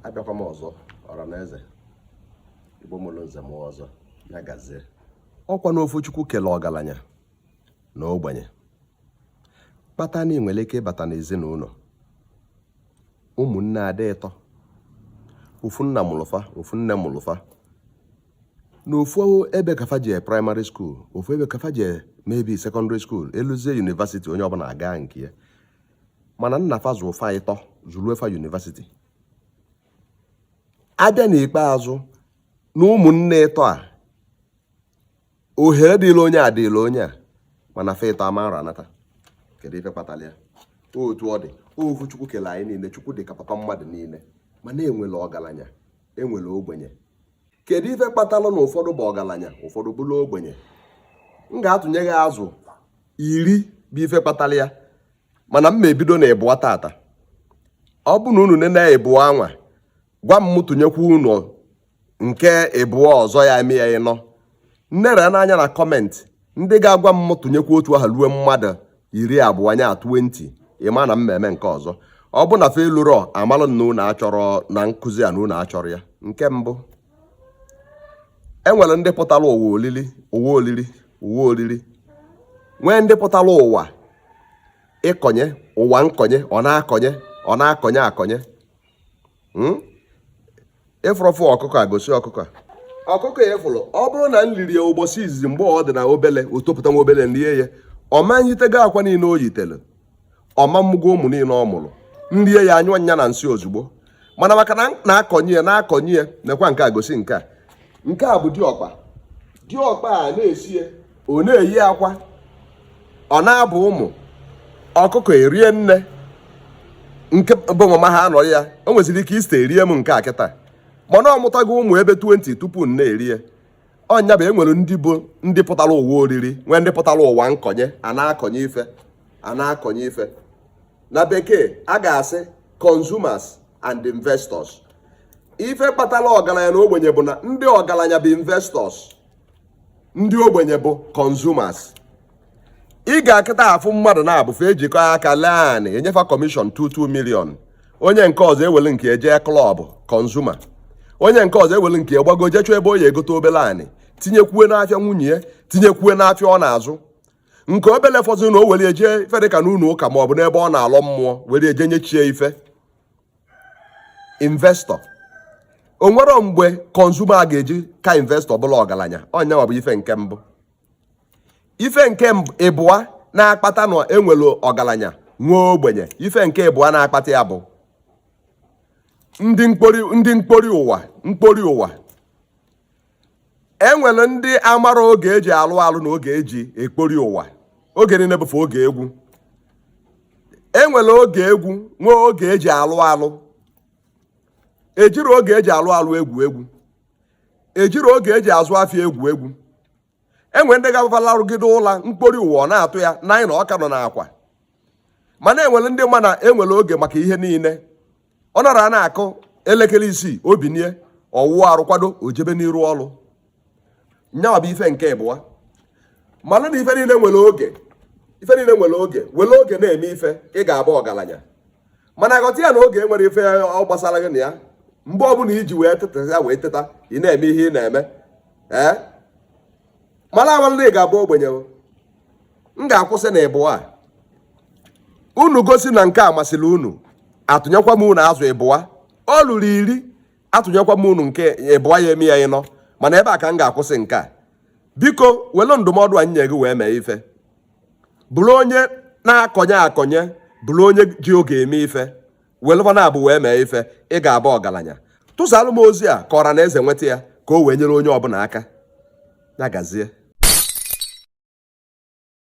abịakwa m ọzọ ọra na eze igbo mụrụ nze mụọ ọzọ ya gazie ọkwa n'ofu chukwu kele ọgalanya na ogbenye kpata na i nwere ike ịbata n'ezinụnọ ụmụnne adị ịtọ ofu nna mụlụ fa ofu nne mụlụ fa na ofu ebe ka fa jee primary school ofu ebe ka fa jee maybe secondary school eluzie university onye ọbụla aga nke ya mana nna fa zụọ fa ịtọ zụlue fa university a bịa n'ikpeazụ na ụmụnne ịtọ a ohere dịlị onye a dịlị onye a mana fa ịtọ ama ara anata kedu ife kpatara ya otu ọ dị ofu chukwu kele anyị niile chukwu dị ka papa mmadụ niile mana enwere ọgalanya enwere ogbenye kedu ife kpatalụ na ụfọdụ bụ ọgalanya ụfọdụ bụrụ ogbenye m ga-atụnye gị azụ iri bụ ife kpatara ya mana m ma ebido na ịbụa tata ọ bụ na unu nene ịbụa anwa gwa m tụnyekwu unu nke ịbụa ọzọ ya eme ya ịnọ m nere anya na comment ndị ga-agwa m tụnyekwu otu a ha ruo mmadụ iri abụa nya 20 ị ma na m ma eme nke ọzọ ọ bụ na fa elurọ a malụ na unu achọrọ na nkụzi a na unu achọrọ ya nke mbụ enwere ndị pụtara ụwa oriri ụwa oriri nwee ndị pụtara ụwa ịkọnye ụwa nkọnye ọ na-akọnye ọ na-akọnye akọnye hmm? ị fụrụ ofu ọkụkọ a gosi ọkụkọ a ọkụkọ a ị fụrụ ọ bụrụ na m riri ya ụbọchị izizi mgbe ọ dị na obele o topụta nwa obele m rie ya ọ ma yitego akwa niile o yitere ọ ma mụgo ụmụ niile ọ mụrụ m rie ya anyụọ ya na nsị ozugbo mana maka na na-akọnye ya na-akọnye ya nekwa nke a gosi nke a nke a bụ diọkpa diọkpa a na-esi ya ọ na-eyi akwa ọ na-abụ ụmụ ọkụkọ erie nne nke bụ mama ha anọrọ ya o nweziri ike Easter erie m nke a kịta mana ọ mụtago ụmụ ebe 20 tupu m na-erie ọ nya bụ enwere ndị bụ ndị pụtara ụwa oriri nwee ndị pụtara ụwa nkọnye a na-akọnye ife a na-akọnye ife na bekee a ga-asị consumers and investors ife kpatara ọgalanya na ogbenye bụ na ndị ọgalanya bụ investors ndị ogbenye bụ consumers ị ga-akata afụ mmadụ naabọ fa ejikọ aka lee anị e nye fa commission 2 2 million onye nke ọzọ ewele nke e jee club consumer onye nke ọzọ ewele nke gbago jee chọọ ebe ọ ya-egote obele anị tinyekwue n'afịa nwunye ya tinyekwue n'afịa ọ na-azụ nke obele fọzị na o were eje ife dịka n'ụlọ ụka ma ọ bụ n'ebe ọ na-alọ mmụọ were eje nyechie ife investor o nwere mgbe consumer ga-eji ka investor bụla ọgaranya ọ nyawa bụ ife nke mbụ ife nke ịbụa na-akpata na enwere ọgaranya nwee ogbenye ife nke ịbụa na-akpata ya bụ ndị mkpori ụwa e nwere ndị amara oge eji alụ ọlụ na oge eji ekpori ụwa oge niile bụfe oge egwu e nwere oge egwu nwee oge eji alụ ọlụ ejiri oge eji alụ ọlụ egwu egwu ejiri oge eji azụ afịa egwu egwu enwere ndị ga-abụ fa larụgide ụla mkpori ụwa ọ na-atụ ya nine ọ ka nọ n'akwa mana enwere ndị ma na enwere oge maka ihe niile ọ nara na-akụ elekere isii o binie ọ wụa arụ kwado o jebe n'iru ọrụ nyawa bụ ife nke ịbụa mara na ife niile nwere oge ife niile nwere oge were oge na-eme ife ị ga-abụ ọgaranya mana ghọta ya na oge enwere ife ọ gbasara gị na ya mgbe ọbụla iji wee teta ya wee teta ị na-eme ihe ị na-eme ee marakwa na ị ga-abụ ogbenye m ga-akwụsị na ịbụa unu gosi na nke a masịrị unu atụnyekwa m unu ọzọ ịbụa o luru iri atụnyekwa m unu nke ịbụa ya eme ya ịnọ mana ebe a ka m ga-akwụsị nke a biko were ndụmọdụ anyị nye gị wee mee ife bụrụ onye na-akọnye akọnye bụrụ onye ji oge eme ife welụ fa naabọ wee mee ife ị ga-aba ọgaranya tụsalụ m ozi a ka ọra na eze nweta ya ka o wee nyere onye ọbụla aka ya gazie